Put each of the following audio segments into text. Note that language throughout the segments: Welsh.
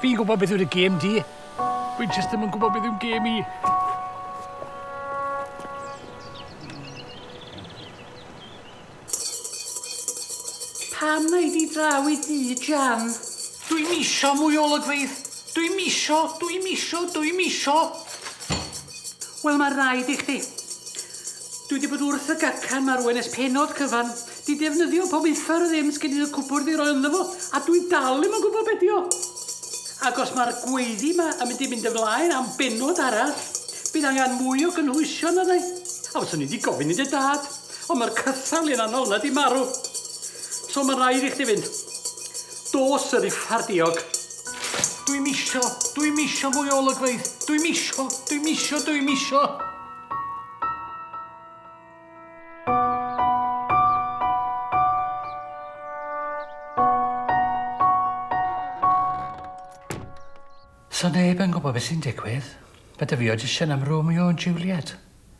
Fi'n gwybod beth yw'r gêm di. Fi'n just ddim yn gwybod beth yw'n gêm i. Pam mae di draw i di, Jan? Dwi misio mwy o olygfeydd. Dwi misio, dwi misio, dwi misio. Wel, mae rhaid i chdi. Dwi 'di bod wrth y gacan 'ma rŵan ers pennod cyfan. 'Di defnyddio pob uffar o ddim sgin i'r cwpwrdd i roi ynddo fo, a dwi dal ddim yn gwybod be' 'di o. Ac os mae'r gweiddi 'ma yn mynd i fynd ymlaen am bennod arall, bydd angen mwy o gynhwysion, meddai. A fyswn i 'di gofyn i dy dad, ond mae'r cythal un anol 'na 'di marw. So mae'n rhaid i chdi fynd. Dos yr uffar diog. Dwi'm isio, dwi'm isio mwy o olygfeydd. Dwi'm isio, dwi'm isio, dwi'm isio. So neb yn gwybod beth sy'n digwydd. Mae dy fi audition am Romeo and Juliet.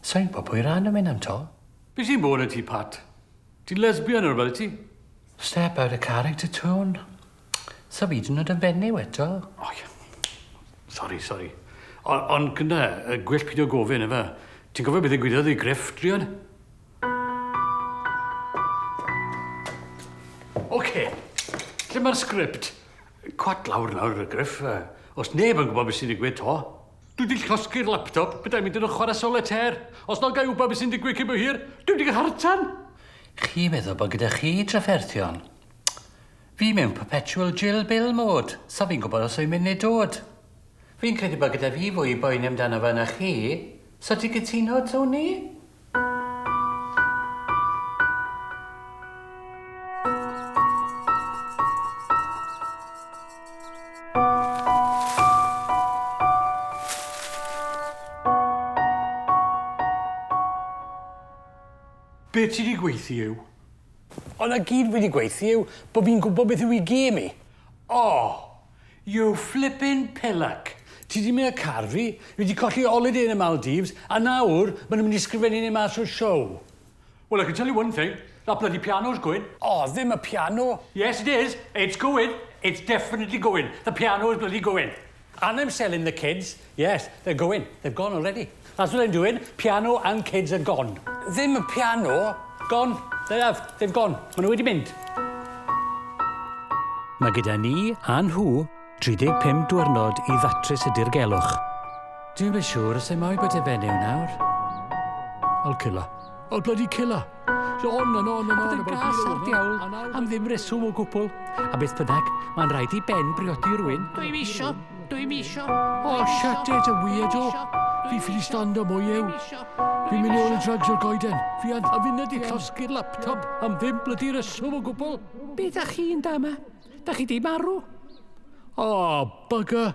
So i'n gwybod pwy rhan yn mynd am to. Be sy'n bod y ti, Pat? Ti'n lesbian neu rhywbeth, ti? Step out of character, Tŵn. Saf hyd yn oed yn fenyw eto. O ie. Sori, sori. O- ond gyda, y gwell pidio gofyn, efe. Ti'n gofio beth ddigwyddodd i Griff, druan? Oce, lle mae'r sgript? Cwat lawr nawr, y Griff. Os neb yn gwybod beth sy'n digwydd to. Dwi wedi llosgi'r laptop, bydda mynd yn y chwarae solitaire. Os na gael wybod beth sy'n digwydd cyn bo hir, dwi wedi cael hartan! Chi meddwl bod gyda chi trafferthion? Fi mewn perpetual jill bill mode, sa fi'n gwbod os yw'n mynd neu dod. Fi'n credu bod gyda fi fwy i boeni amdano fe na chi, so ti'n cytuno, Tony? Be ti 'di gweithio yw? Ond a gyd wedi gweithio yw bod fi'n gwybod beth yw i gêm i. Oh! You flippin pillock! Ti 'di mynd â car fi, fi 'di colli oliday yn y Maldives, a nawr ma' nhw'n mynd i sgrifennu ni mas o'r show! Well I can tell you one thing, that bloody piano's going! Oh, ddim y piano! Yes it is! It's going! It's definitely going! The piano is bloody going! And I'm selling the kids, yes, they're going, they've gone already. That's what I'm doing, piano and kids are gone. Ddim y piano. Gone, they have, they've gone, maen nhw wedi mynd. Mae gyda ni a nhw 35 diwrnod i ddatrys y dirgelwch. Dwi'n beth siŵr os ei mo'i bod e fenyw nawr. Old killer. Old bloody killer. Sôn yn on yn on about yn gas ar diawl am ddim reswm o gwbl. A beth bynnag, mae'n rhaid i Ben briodi rwy'n. Dwi'n misio, dwi'n misio. O, oh, shut it, y weirdo. Fi ffili stando mwy yw. Fi'n mynd ôl i drugs o'r goeden. Fi an a fyned i llosgi'r laptop am ddim blydi reswm o gwbl. Be da chi'n da yma? Da chi di marw? O, oh, bugger.